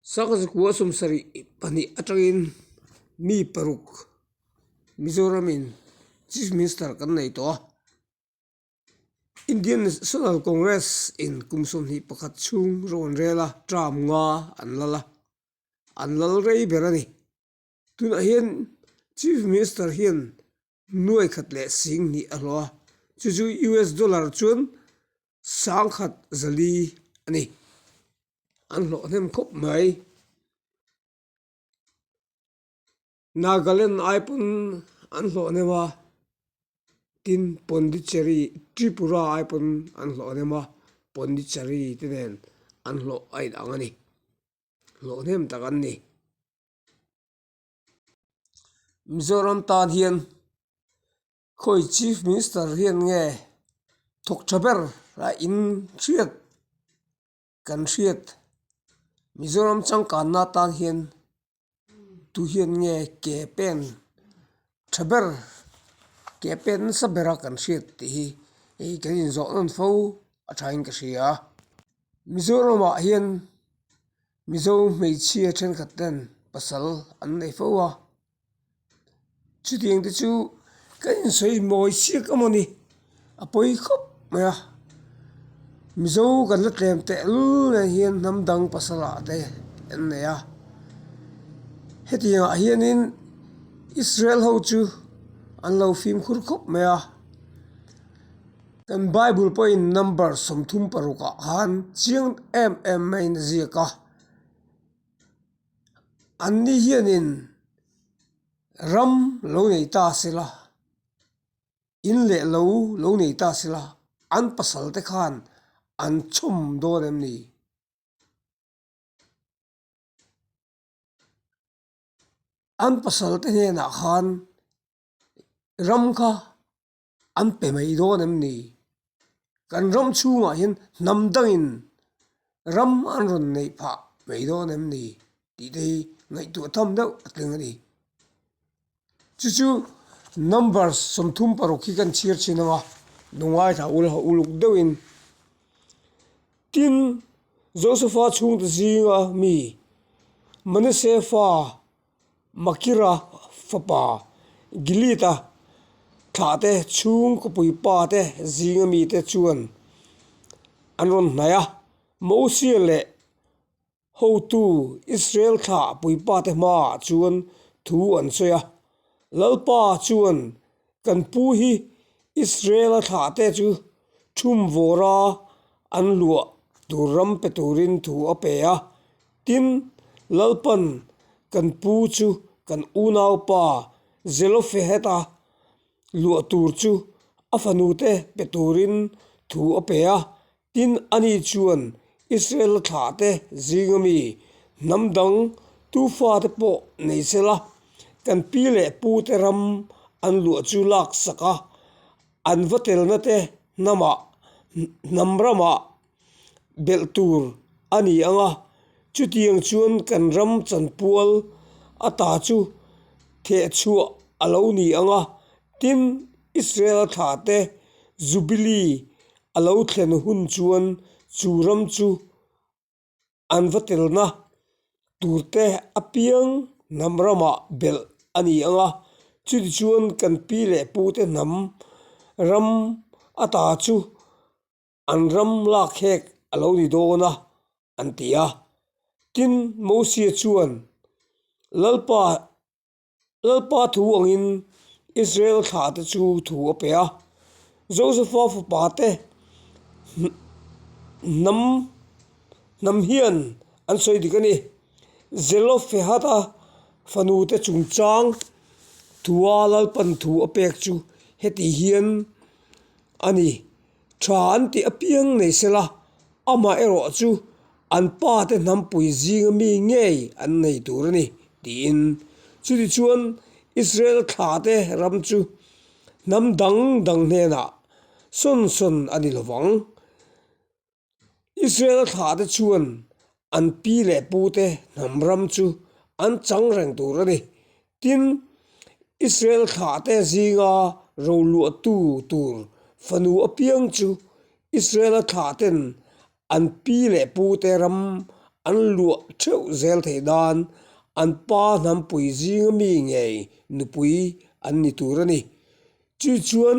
Saka Zakuaha sawm sarih pahnih atangin mi paruk Mizoram in Chief Minister kan nei tawh a, Indian National Congress in kum sawmhnih pakhat chhung rawn rel a, term nga an lal a, an lal rei ber a ni. Tunah hian Chief Minister hian nuai khat leh sing hnih a hlua, chu chu US dollar chuan sang khat zali a ni. An hlawhnem khawp mai. Nagaland ai pawh an hlawhnem a, tin Pondicherry, Tripura ai pawh an hlawhnem a, Pondicherry te nen an hlawh a inang a ni. Hlawhnem tak an ni. Mizoram tan hian khawi chief minister hian nge thawk tha ber a in hriat kan hriat Mizoram changkanna tan hian tu hian nge ke pen-- Tha ber, ke a pet nasa ber a kan hriat tih hi ih kan inzawh nawn fo a tha in ka hria a, Mizoram ah hian Mizo hmeichhia thenkhat ten pasal an nei fo a, chutiang te chu kan insawi mawi siak a mawni. a pawi khawp mai a mizo kan la tlem tehl mai hian hnam dang pasala te an nei a heti ah hian in Israel ho chu an lo fim khur khawp mai a kan bible pawh in number sawmthum paruk ah khan chiang em em mai in a ziak a an ni hian in ram lo nei ta se la. in leh lo lo nei ta sila an pasal te khan an chhum dawn em ni? An pasal te hnenah khan ram kha an pe mai dawn em ni? kan ram chhungah hian hnam dangin ram an rawn neih phah mai dawn em ni tih te hi ngaihtuah tham deuh a tling a ni chu chu number sawmthum paruk hi kan chhiar thin ang a hnungai thla ulha uluk deuh in tin Josepha chhungte zinga mi Manasseh fa Makira fapa Gilita thlahte chhung khawpui pate zinga mite chuan an rawn hnaih a, Mosea leh hotu Israel thlah pui pate hmaah chuan thu an sawi a. Lalpa chuan Kan pu hi Israela thlahte chu thum vawra an luah tur ram pe turin thu a pe a. Tin, Lalpan kan pu chu kan unaupa Zelofehad-a luah tur chu a fanute pe turin thu a pe a, Tin, ani chuan Israela thlahte zinga mi hnam dang tufate pawh nei se la, kan pi leh pute ram an luah chu lak sak a, an va telnate hnamah, hnam ramah belh tur a ni ang a. Chutiang chuan kan ram chanpual ata chu thehchhuah a lo ni ang a. Tin, Israela thlahte Jubilee a lo thlen hun chuan chu ram chu an va tel na tur te apiang hnam ramah belh a ni ang a chutah chuan kan pi leh pu te hnam ram ata chu an ram lak hek a lo ni dawn a an ti a tin Mosia chuan lalpa-- Lalpa thu angin Israel thlate chu thu a pe a, Josepha fapa te hnam hnam hian an sawi dik a ni, Zelofehada fanu te chungchang thua lalpan thu a pek chu heti hian a ni. Tha an tih apiang nei sela, amaherawh chu an pa te hnam pui zinga mi ngei an nei tur a ni, tiin. Chutichuan, Israel thla te ram chu hnam dang dang hnenah sawn sawn a ni lovang. Israel thla te chuan an pi leh pu te hnam ram chu an chang reng tur a ni, Tin, Israel thlate zinga roluahtu tur fanu apiang chu Israela thlaten an pi leh pute ram an luah theuh zel thei nan an pa hnam pui zinga mi ngei nupui an ni tur a ni. Chu chuan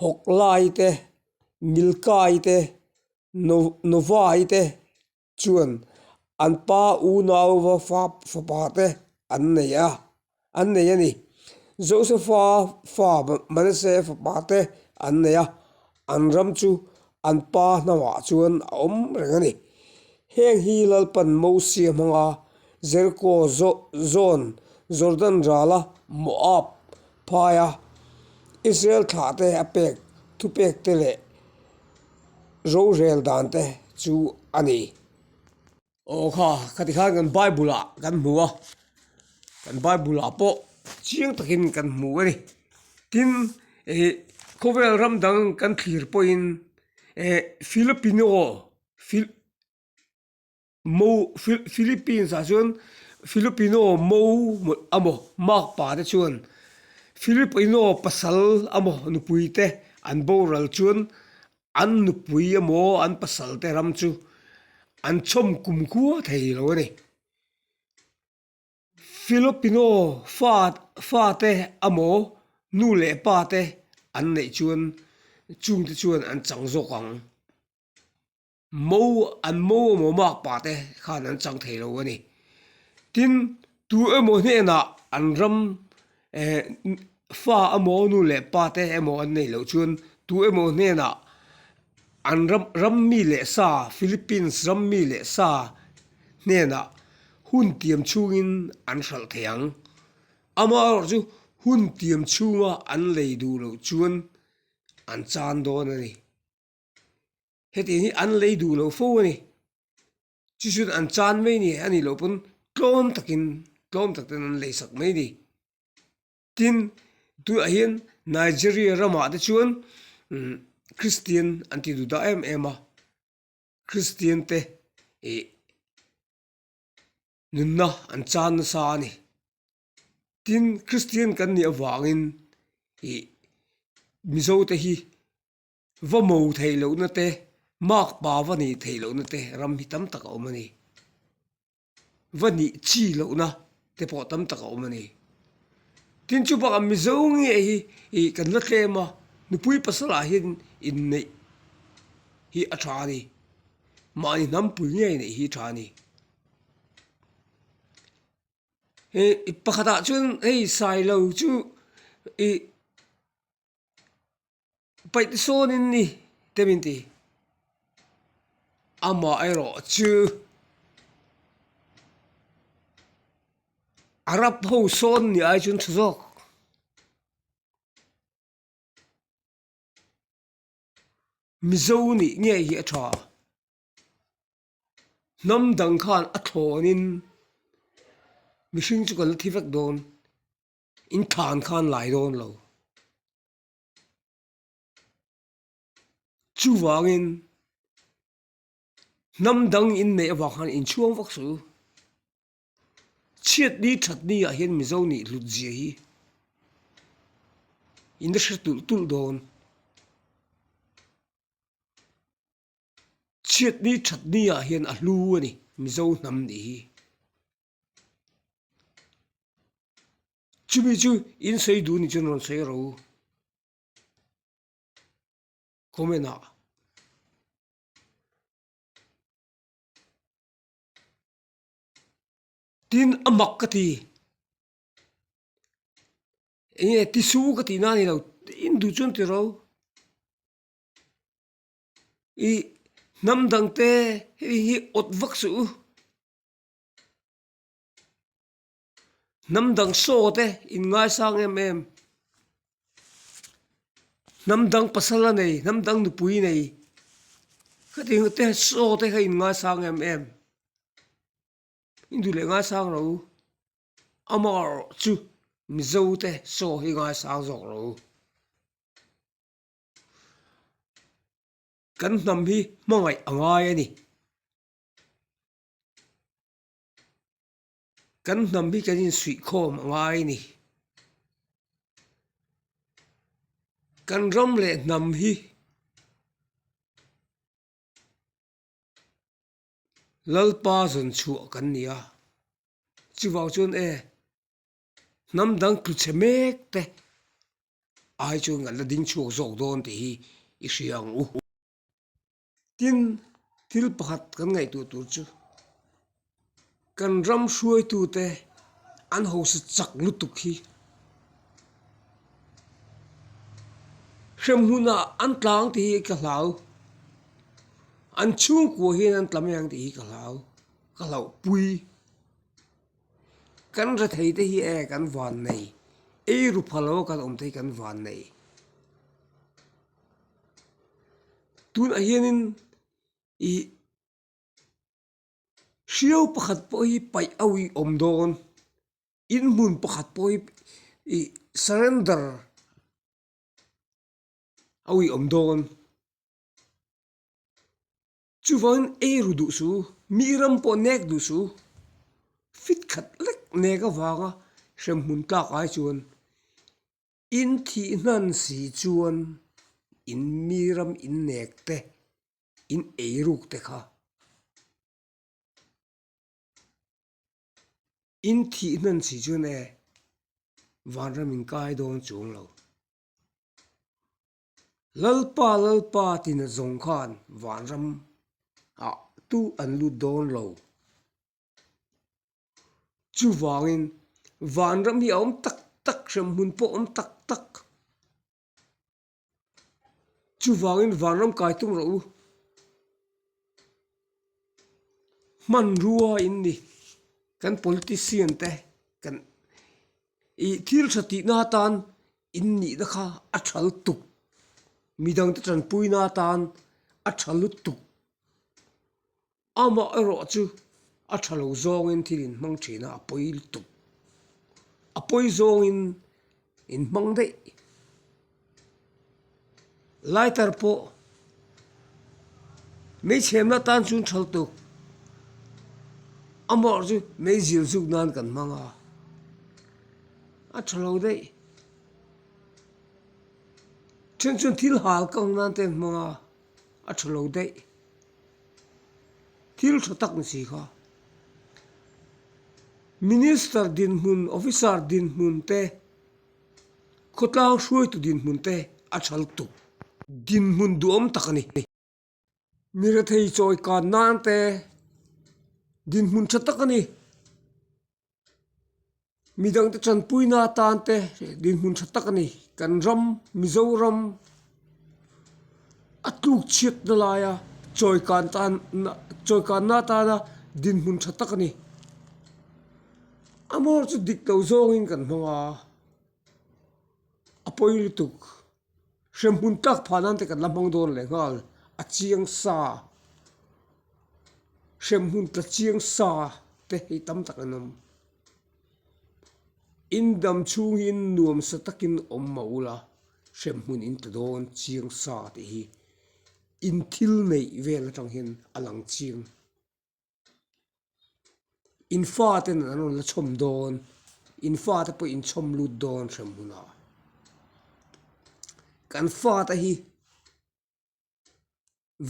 Hawklai te, Milkai te, Nu, Nuvai te chuan an pa unauva fa, fapa te an nei a, an nei a ni. Josefa fa Manase fapa te an nei a, an ram chu an pa hnauah chuan a awm reng a ni. Heng hi lalpan Mosia hmanga Jeriko zawn, Jordan rala Moab, Phai a, Israel thlah te a pek thupek te leh rorel dan te chu a ni. Aw kha, ka ti khan kan Bible ah kan hmu a, kan Bible ah pawh chiang takin kan hmu a ni. Tin, ih khawvel ram dang kan thlir pawhin, eh Filipino, Fil. Mo, Philippines ah chuan Filipino Mo emaw Mak pa te chuan Filipino pasal emaw nupui te an boral chuan an nupui emaw an pasal te ram chu an chawm kum khua thei lo a ni. Filipino fa fa te emaw nu leh pa te an neih chuan chungte chuan an chang zawk ang. Mo an mo emaw mâk pahte khan an chang thei lo a ni. Tin, tu emaw hnenah an ram eh fa emaw nu leh pate emaw an nei loh chuan tu emaw hnenah an ram ram mi leh sa, Philippines ram mi leh sa hnenah hun tiam chhungin an hralh thei ang. Amaherawh chu hun tiam chhunga an lei duh loh chuan an chan dawn a ni. hetiang hi an lei duh loh fo a ni chu chu an chan mai ni a nih loh pawn tlawm takin tlawm tak ten an lei sak mai a ni tin tunah hian Nigeria ramah te chuan umm kristian an ti duh daih em em a kristian te ih nunna an chan nasa a ni tin kristian kan nih avangin ih mizo te hi-- Va mo theih lohna te, Mark pa va ni theih lohna te ram hi tam tak a awm a ni. Va ni chi lohna te pawh tam tak a awm a ni. Tin chu bakah Mizo nge hi i kan la tlem a, nupui pasalah hian inneih hi a tha a ni, mahni hnam pui nge a inneih hi a tha a ni. I pakhatah chuan hei Sailo chu i Paih te sawn in ni te min ti a mah erawh chu a rap ho sawn ni ai chu thu zawk Mizo nih nge hi a tha hnam dang khan a thlawn in mihring chu kan la thi vek dawn. In thlan khan lai dawn lo. Chuvangin hnam dang in neih avang khan in chhuang vak suh u. Chhiat ni that ni ah hian Mizo nih hlut zia hi in la hre tulh tulh dawn. Chhiat ni that ni ah hian a hlu a ni Mizo hnam nih hi. chumi chu in sawi duh ni chuan rawn sawi a ro comment ah. tin a mak ka ti enge ti su ka tihna a ni lo in duh chuan ti ro i hnam dangte hei hi awt vak suh u. Hnam dang saw te in ngai sang em em Hnam dang pasal a nei hnam dang nupui nei Ka ti te saw te kha in ngai sang em em In du leh ngai sang lo Amar chu Mizo te saw hi ngai sang zawk lo Kan hnam hi hmangaih a ngai a ni kan hnam hi kan insuih khawm a ngai a ni kan ram leh hnam hi lalpa zawn chhuah kan ni a chuvau chuan e hnam dang tluchhe mek te ai chu ngalh la ding chhuak zawk dawn tih hi i hria ang u. tin thil pakhat kan ngaihtuah tur chu kan ram hruaitute an haw se chak lutuk hi hremhuna an tlang tih hi ka hlau an chhungkua hian an tla mai ang tih hi ka hlau ka hlauhpui. Kan hre thei te hi e kan van nei, ei ru pha lo kan awm te hi kan van nei. Tunah hianin i hriau pakhat pawh hi paih auhi awm dawn, inhmun pakhat pawh hi i surrender auhi awm dawn. Chuvain ei ru duh chu, mi ram pawh nek duh chu, fit khat lek nek avanga hrem hmun tlak ai chuan in thih hnan si chuan in mi ram in nek te, in ei ruk te kha in thih hnan si chuan e, vanram in kai dawn chuang lo. Lalpa, Lalpa tina zawng khan vanram ah tu an lut dawn lo. Chuvangin vanram hi a awm tak tak, hremhmun pawh a awm tak tak. Chuvangin vanram kai tum rawh u. Hmanrua in ni kan politician te kan Ih thil tha tihna atan in nihna kha a tha lutuk, midangte tanpuina atan a tha lutuk, amah erawh chu a tha lo zawngin thil in hmang thina a pawi lutuk, a pawi zawngin in hmang daih. Lighter pawh mei chhemna tan chu tha tawk amaherawh chu mei zir zuk nan kan hmang a a tha lo daih then chu thil hal kang nan te an hmang a a tha lo daih thil tha tak ni si kha minister dinhmun officer dinhmun te. Khawtlang hruaitu dinhmun te a tha luk tuk. Dinhmun duhawm tak a ni. Mi rethei chawi kan nan te dinhmun tha tak a ni. Midang te chanpuina atan te dinhmun tha tak a ni. Kan ram, Mizoram. A tlukchhiatna laia chawikan tan chawikanna atana dinhmun tha tak a ni, a maw chu dik loh zawngin kan hmang a, a pawi lutuk hrem hmun tak phah nan te kan la hmang dawn leh nghal, a chiang sa hrem hmun tla chiang sa te hi tam tak an awm. Indam chhungin nuam sa takin awm mah ula, hrem hmun in ta dawn chiang sa tih hi in thil neih vel atang hian a lang chiang. In fa te nen an rawn la chhawm dawn, in fa te pawh in chhawm lut dawn hrem hmun ah. Kan fa te hi--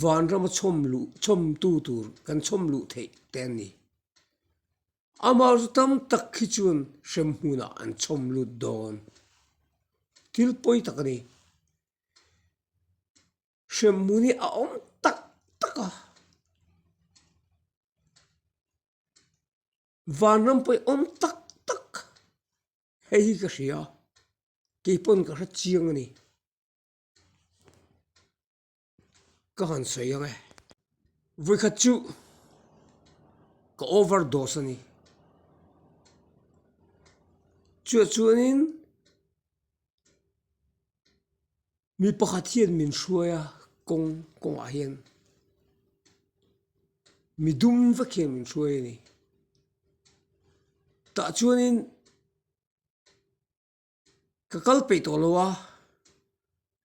van rama chhawm luh chhawmtu tur kan chhawm luh theih te an ni. Amah chu tam tak khi chuan hrem hmunah an chhawm lut dawn. Thil pawi tak a ni. Hrem hmun hi a awm tak tak a. Van ram pawh hi awm tak tak. Hei hi ka hria, kei pawn ka hre chiang a ni. ka han sawi ang e vawikhat chu ka over dose a ni chuah chuan in mi pakhat hian min hruai a kawng kawng ah hian mi dum vek hian min hruai a ni tah chuan in. Ka kal peih tawh lo a,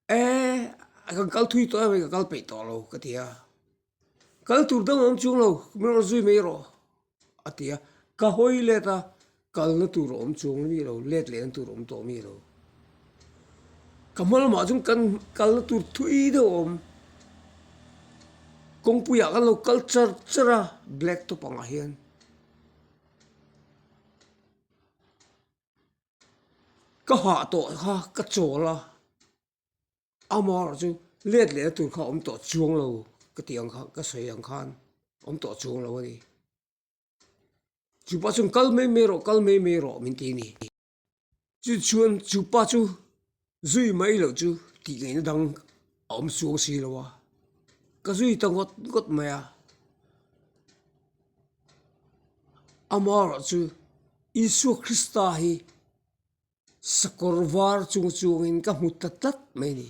eehh kan kal thui tawh em ka kal peih tawh lo ka ti a, kal tur dang awm chung lo min rawn zui mai erawh a ti a, ka hawi let a, kalna tur a awm chung ami lo, let leh na tur a awm tawh ami lo, ka hma lamah chuan kan kalna tur thui deuh a awm, kawngpuiah kan lo kal char char a black top angah hian. Ka hah tawh kha ka chawl a, ama erawh chu let leh na tur kha awm tawh chuang lo ka tih ang kha ka sawi ang khan awm tawh chuang lo a ni. Chu pa chuan kal mai mai erawh kal mai mai erawh min ti a ni. Chu chuan chu pa chu zui mai loh chu tih ngaihna dang a awm suang si lo a ka zui ta ngawt ngawt mai a ama erawh chu Isua Krista hi sakawr var chung chuang in ka hmu ta tlat mai a ni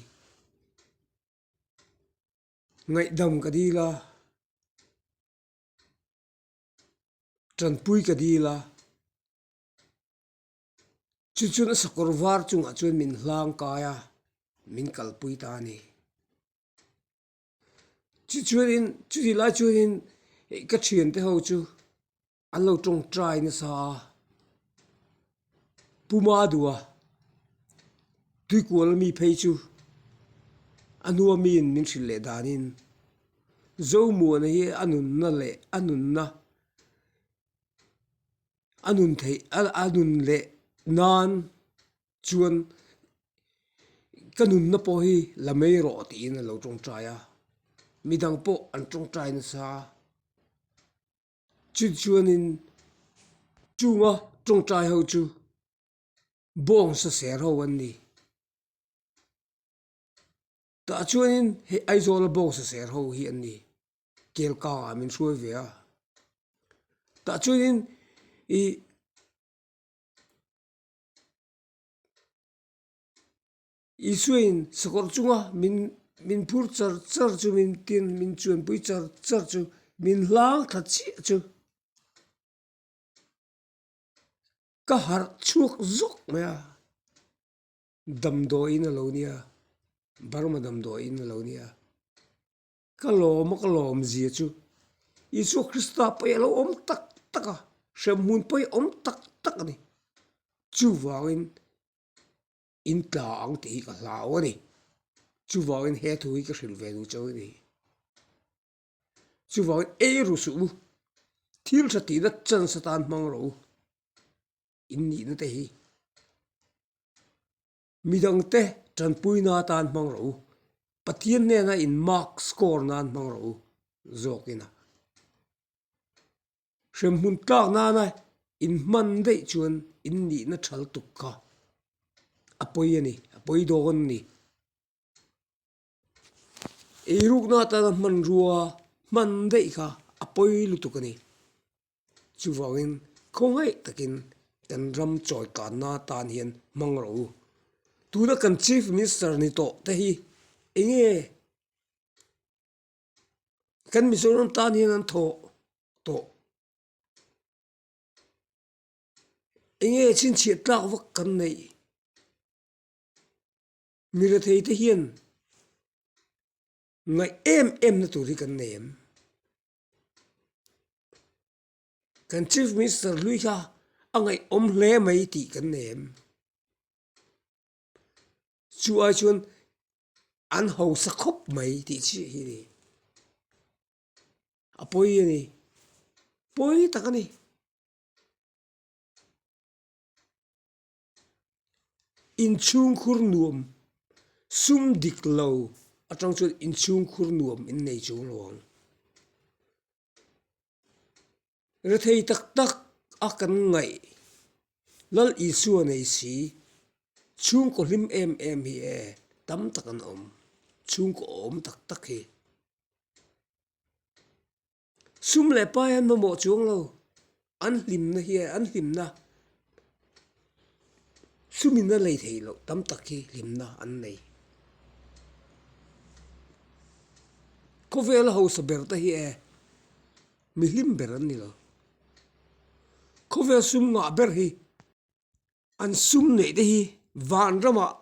ngaihdam ka dil a tanpui ka dil a. Chu chuan a sakawr var chungah chuan min hlang kai a, min kalpui ta a ni. Chu chuanin, chutih lai chuanin ka thiante ho chu an lo tawng try nasa a, puma dua, tuikuala mi phei chu a hnua miin min hrilh leh danin Zomuana hi a nunna leh a nunna a nun theih a nun leh nan chuan ka nunna pawh hi la mai rawh tiin an lo tawngtai a mi dang pawh an tawngtai nasa chun chuanin chunga tawngtai ho chu bawngsa ser ho an ni tah chuanin heh Aizawl a bawngsa ser ho hi an ni. kel kangah min hruai ve a tah chuanin ih Isua in sakawrh chunga min min phur char char chu min tin min chuanpui char char chu min hlang tha chiah chu ka harh chhuak zawk mai a damdawiin a lo nia Burma damdawiin a lo nia. Ka lawm a ka lawm zia chu Isua Krista paih a lo awm tak tak a, hrem hun paih a awm tak tak a ni. Chuvangin in tla ang tih hi ka hlau a ni. Chuvangin he thu hi ka hrilh ve duh chauh i ni. Chuvangin ei ru suh u, thil ṭha tihna chansa tan hmang rawh u, in nihna te hi. Midang te tanpui na tan hmang rawh u, Pathian hnena in mark score nan hmang rawh u, zawk in a hrem hun tlak nana in hman daih chuan in nih na thal tuk kha a pawi a ni, a pawi dawn a ni. Ei rukna atana hmanrua hman daih kha a pawi lutuk a ni. Chuvangin khawngaiih takin kan ram chawi kanna atan hian hmang rawh u. Tuna kan Chief Minister ni tawh te hi eng nge kan Mizoram tan hian an thawh tawh? Eng nge chhinchhiah tlak vak kan neih? Mirethei te hian ngaih em em na tur hi kan nei em? Kan Chief Minister hlui kha a ngaihawm hle mai tih kan nei em? Chu ai chuan an hausa khawp mai tih chiah hi a ni. A pawi a ni, pawi tak a ni. inchhungkhur nuam sum dik lo atang chuan inchhungkhur nuam in nei chu lo ang rethei tak tak a kan ngaih lal Isua nei si chhungkaw hlim em em hi e tam tak an awm chhungkaw awm tak tak hi. Sum leh pa hian mamawh chuang lo, an hlimna hi an hlimna sumin a lei thei loh tam tak hi hlimna an nei. Khawvela hausa ber te hi e mi hlim ber an ni lo, khawvel sum nghah ber hi. An sum neih te hi vanramah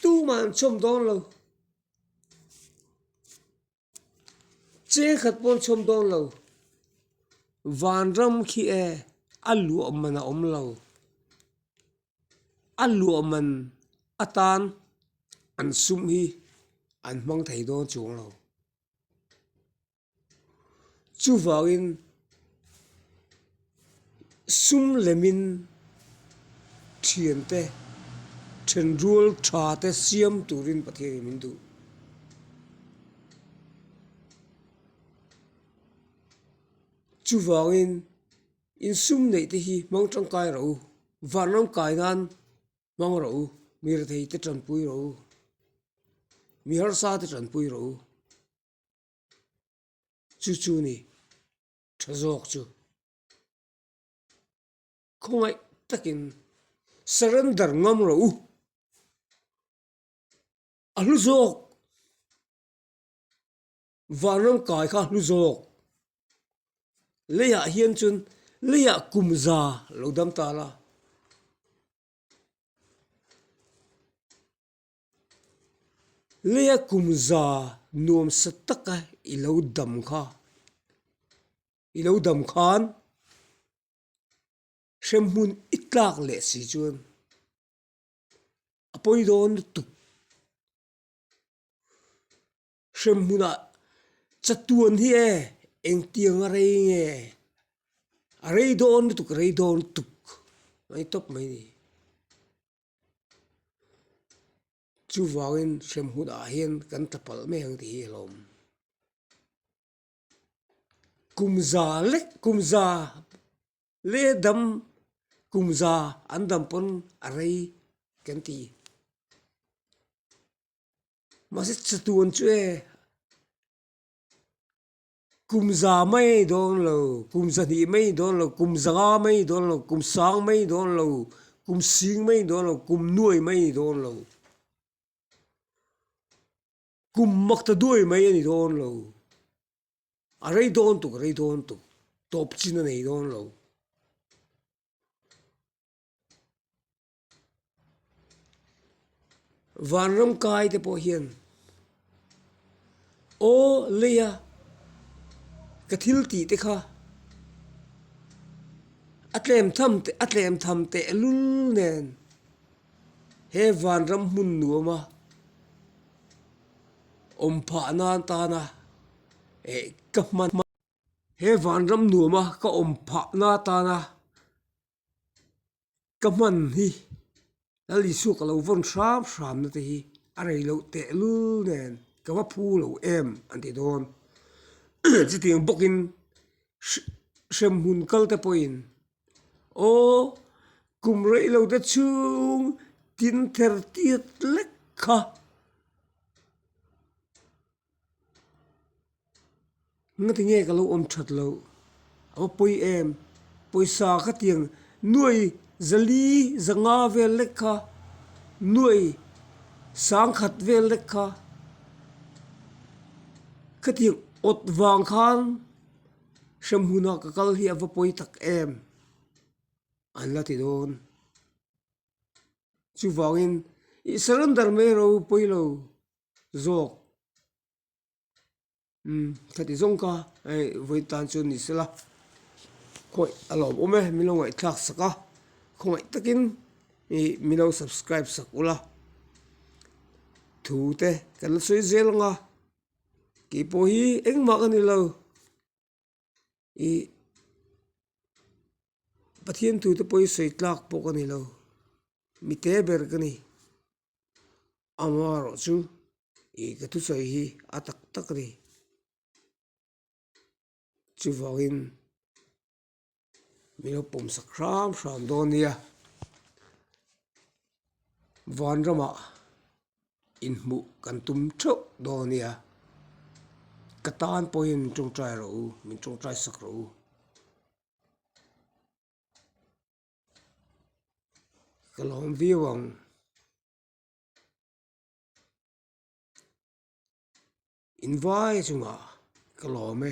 tumah an chhawm dawn lo, cheng khat pawh an chhawm dawn lo. Vanram khi e a luahman a awm lo, a luahman atan an sum hi an hmang thei dawn chung lo. Chuvangin, sum lemin thiante, thenrual thate siam turin Pathian in min duh. Chuvangin, insum neih te hi hmang tangkai ro u, van ram kai nan hmang ro u, mi rethei te tanpui ro u, mi harsate tanpui ro u. chu chu ni tha zawk chu khawngaih takin surrender ngam ro u a hlu zawk vanram kai kha a hlu zawk leiah hian chuan leiah kum za lo dam ta la. Leia kum za nuam sa taka i lo dam kha, i lo dam khan hrem hmun i tlak leh si chuan a pawi dawn lutuk. Hrem hmunah chatuan hi e, engtiang a rei nge? A rei dawn lutuk, a rei dawn lutuk, a ni tawp mai ni. chuvangin hrem hunah hian kan tla palh mai ang tih hi a la awm kum za leh kum za leh dam kum za an dam pawn a rei kan ti mahse chutiang chu e. Kum za mai dawn lo, kum za hnih mai dawn lo, kum za nga mai dawn lo, kum sang mai dawn lo, kum sing mai dawn lo, kum nuai mai dawn lo, kum mak ta duai mai a ni dawn lo, a rei dawn tuk a rei dawn tuk, tawp chin a nei dawn lo. Vanram kai te pawh hian aw lei a ka thil tih te kha a tlem tham teh a tlem tham teh lul nen he vanram hmun nuam a awm phah nan tan a eh ka hman hman he vanram nuam a ka awm phah na tan a. ka hman hi lal Isua ka lo vawn hram hram nate hi a rei loh tehlul nen ka va phu lo em an ti dawn chuti ang bawkin hrem hun kal te pawhin aw kum rei lo te chhung tin ther tiat lek kha. Nge tinge ka lo awm that loh? A va pawi em? Pawisa ka ti ang, nuai zali za nga vel lek kha, nuai sang khat vel lek kha ka ti ang, awt vang khan hrem hun ah ka kal hi a va pawi tak em? An la ti dawn. Chuvangin i surrender mai a lo pawi lo. zawk umm ka ti zawng ka hei vawi tan chu ni se la khawi a lawm awm e mi lo ngaihthlak sak a khawngaih takin ih mi lo subscribe sak u la thu te kan la sawi zel ang a kei pawh hi engmah ka ni lo. ih pathian tute pawhin sawi tlak pawh ka nilo mi te ber ka ni amarawh chu ih ka thusawi hi a tak tak a ni chuvangin-- mi ho pawm sak hrâm hrâm dâwn nia vân ramah inhmuh kan tum ṭheuh dâwn a nia ka tân pawhin min ṭawngṭai ro u min ṭawngṭai sak ro u. Ka lâwm vîu ang. Invâi chungah ka lâwm e.